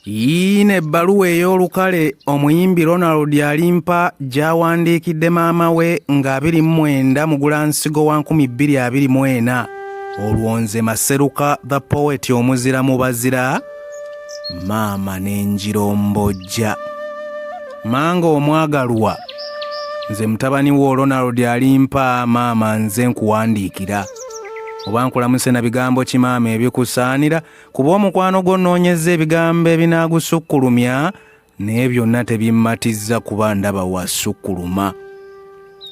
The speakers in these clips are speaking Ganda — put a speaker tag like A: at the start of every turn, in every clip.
A: yiina ebbaluwa ey'olukale omuyimbi ronald alimpa gy'awandiikidde maama we nga 29 mugulansigo wa 224 olwo nze maseruka the poet omuzira mu bazira maama n'enjirombojja manga omwagalwa nze mutabani wo ronald alimpa maama nze nkuwandiikira oba nkulamuse na bigambo ki maama ebikusaanira kuba omukwano gwo nnoonyezza ebigambo ebinaagusukkulumya naye byonna tebimmatizza kuba ndaba wasukkuluma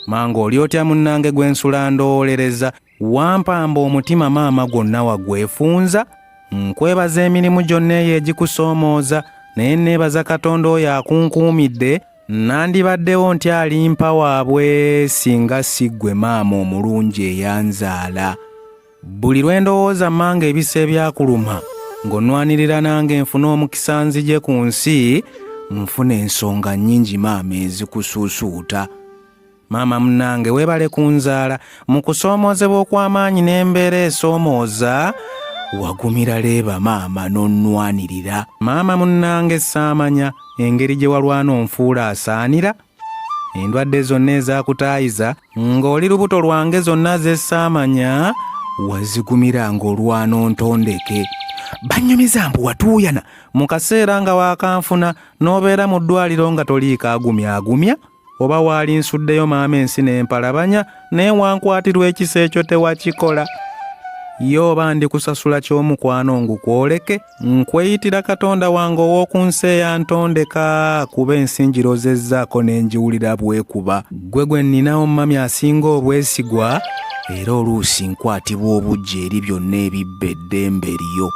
A: manga oli otya munnange gwe nsula ndoolereza wampamba omutima maama gwonna wagwefunza nkwebaza emirimu gyonna eyo egikusoomooza naye nneebaza katonda oyo akunkuumidde Nandibaddewo nti alimpa waabwe singa si ggwe maama omulungi eyanzaala. Buli lwe ndowooza manga ebisa ebyakuluma ng'onwanirira nange nfune omukisa nzije ku nsi nfuna ensonga nnyingi maama ezikusuusuuta. Maama munange webale kunzaala mu kusoomoozebwa okw'amaanyi n'embeera esoomooza wagumira leeba maama n'onnwanirira maama munnange saamanya engeri gye walwana onfuula asaanira endwadde zonna ezakutaayiza ng'oli lubuto lwange zonna zesaamanya wazigumira ng'olwana ontondeke bannyumiza mbu watuuyana mu kaseera nga waakanfuna n'obeera mu ddwaliro nga toliikaagumya agumya oba waali nsuddeyo maama ensi n'empalabanya naye wankwatirwa ekisa ekyo tewakikola ye oba ndi kusasula ky'omukwano ngukwoleke nkweyitira katonda wange ow'oku nsi eyantondeka kuba ensi njirozezzaako ne ngiwulira bwekuba ggwe gwe nninawo mumami asinga obwesigwa era oluusi nkwatibwa obujja eri byonna ebibba eddembe lyo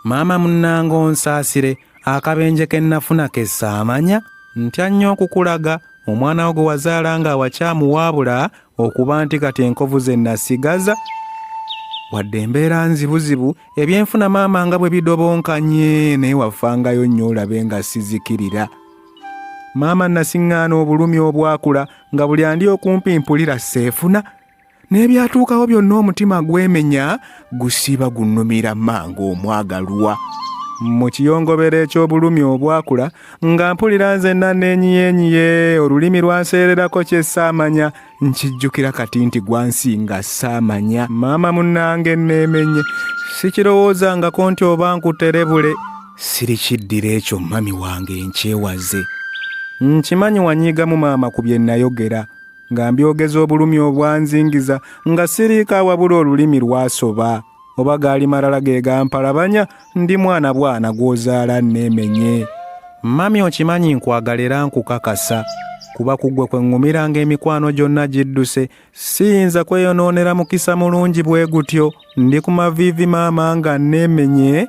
A: maama munnanga onsaasire akabenje ke nnafuna ke saamanya ntya nnyo okukulaga omwana wo gwe wazaala nga awakyamu waabula okuba nti kati enkovu ze nasigaza wadde embeera nzibuzibu ebyenfuna maama nga bwe bidobonkanye naye wafangayo nnyo olabe nga sizikirira maama nasiŋŋaana obulumi obwakula nga buli andi okumpi mpulira seefuna n'ebyatuukawo byonna omutima gwemenya gusiba gunnumira manga omwagalwa mu kiyongobero eky'obulumi obwakula nga mpulira nze naneenyiyenyiye olulimi lwanseererako kye saamanya nkijjukira kati nti gwansinga saamanya maama munnange nneemenye sikirowoozangako nti oba nkuterebule sirikiddira ekyo mami wange nkyewaze nkimanyi wanyiigamu maama ku bye nnayogera nga mbyogeza obulumi obwanzingiza nga siriika wabula olulimi lwasoba oba gaali malala ge gampalabanya ndi mwana bwana gw'ozaala nneemenye mami okimanyi nkwagala era nkukakasa kuba kuggwe kwe ŋŋumiranga emikwano gyonna gidduse siyinza kweyonoonera mukisa mulungi bwe gutyo ndi ku maviivi maama nga nneemenye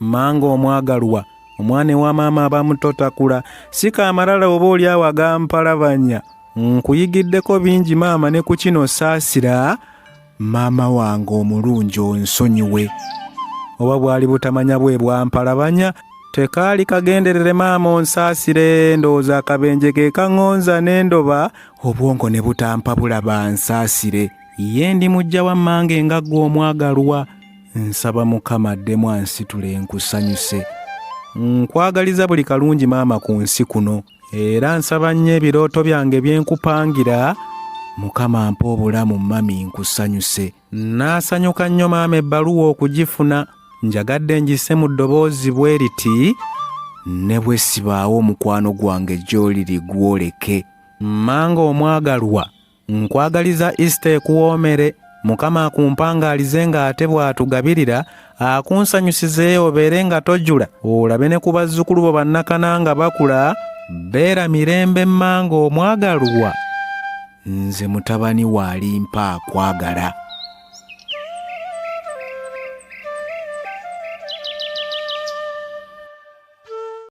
A: mmange omwagalwa omwana ewa maama abamuto takula sika amalala oba oli awo agampalabanya nkuyigiddeko bingi maama ne ku kino saasira maama wange omulungi onsonyiwe oba bwali butamanya bwe bwampalabanya tekaali kagenderere maama onsaasire ndowooza akabenje ke kaŋŋonza n'endoba obwongo ne butampabula bansaasire ye ndi mujja wa mmange nga ggwe omwagalwa nsaba mukama addemu ansitule nkusanyuse nkwagaliza buli kalungi maama ku nsi kuno era nsaba nnyo ebirooto byange byenkupangira mukama mpa obulamu mami nkusanyuse naasanyuka nnyo maama ebbaluwa okugifuna njagadde ngise mu ddoboozi bwe riti ne bwe sibaawo omukwano gwange gy'oliri gwoleke manga omwagalwa nkwagaliza isita ekuwoomere mukama akumpangaalize ng'ate bw'atugabirira akunsanyusize obeere nga tojula olabe ne ku bazzukulu bo bannakana nga bakula beera mirembe mmanga omwagalwa nze mutabani waalimpa akwagala